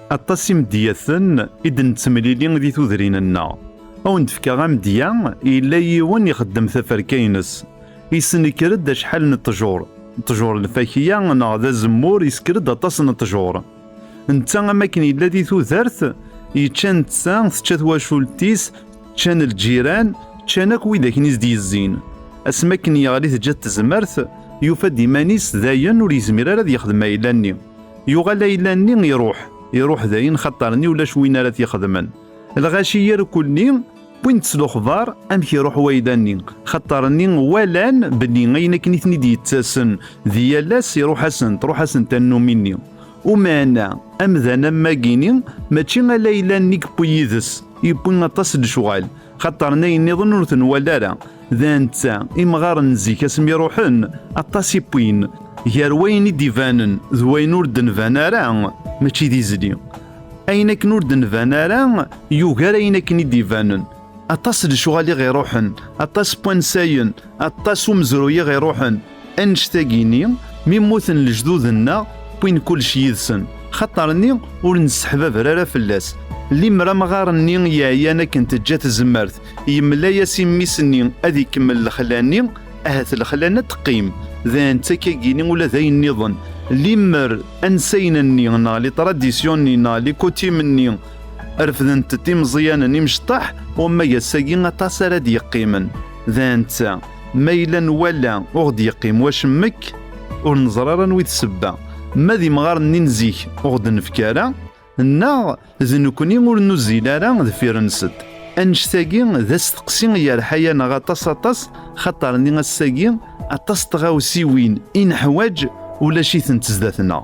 Aṭas imedyaten i d-nettemlili di tudrin-nneɣ. A wen-d-fkeɣ amedya, yella yiwen ixeddem taferka-ines. Yessenekker-d acḥal n ṭṭjur. Ṭṭjur lfakya neɣ d azemmur yessker-d aṭas n ṭṭjur. Netta am akken yella di tudert, yečča netta, tečča twacult-is, ččan lǧiran, ččan akk wid akken i s-d-yezzin. Asmi akken yeɣli teǧǧa-t tezmert, yufa-d iman-is dayen ur yezmir ara ad yexdem ayla-nni. Yuɣal ayla-nni iruḥ, iruḥ dayen xaṭer-nni ulac win ara t-ixedmen. Lɣaci irkul-nni wwin-t s lexbar amek iruḥ wayla-nni, xaṭer-nni walan belli ayen akken i ten-id-yettasen di yal ass iruḥ-asen, truḥ-asen tannumi-nni. Umeɛna, amdan am wagi-nni mačči ala ayla-nni i yewwi yid-s, yewwi aṭas n lecɣal. xaṭer n ayen nniḍen ur ten-wala ara d anta imɣaren n zik asmi ruḥen aṭas i wwin gar wayen i d-ibanen d wayen ur d-nban ara mačči d izli ayen akken ur d-nban ara yugar ayen akken i d-ibanen aṭas lecɣal i ɣ-iruḥen aṭas n wansayen aṭas umezruy i ɣ-iruḥen Annect-agi-ni, mi mmuten lejdud-nneɣ, wwin kullec yid-sen, xaṭer-nni ur nesseḥbaber ara fell-as. Limer amɣar-nni yeɛyan akken teǧǧa tzemmert, yemla-as i mmi-s-nni ad ikemmel lexla-nni, ahat lexla-nni ad teqqim, d antak-agi-ni ula d ayen nniḍen, limer ansayen-nni neɣ litradisyon-nni neɣ likutim-nni refdent-t imeẓyanen imecṭaḥ, wamma g ass-agi aṭas ara d-yeqqimen. D anta? Ma yella nwala ur ɣ-d-yeqqim wacemmek, ur neẓra ara anwi d sebba. Ma d imɣaren-nni n zik ur ɣ-d-nefk ara, neɣ d nekni ur nuzzil ara deffir-nsent. Annect-agi d asteqsi i yerḥa-yaneɣ aṭas aṭas, xaṭer nni ass-agi aṭas n tɣawsiwin i neḥwaǧ ulac-itent zdat-neɣ.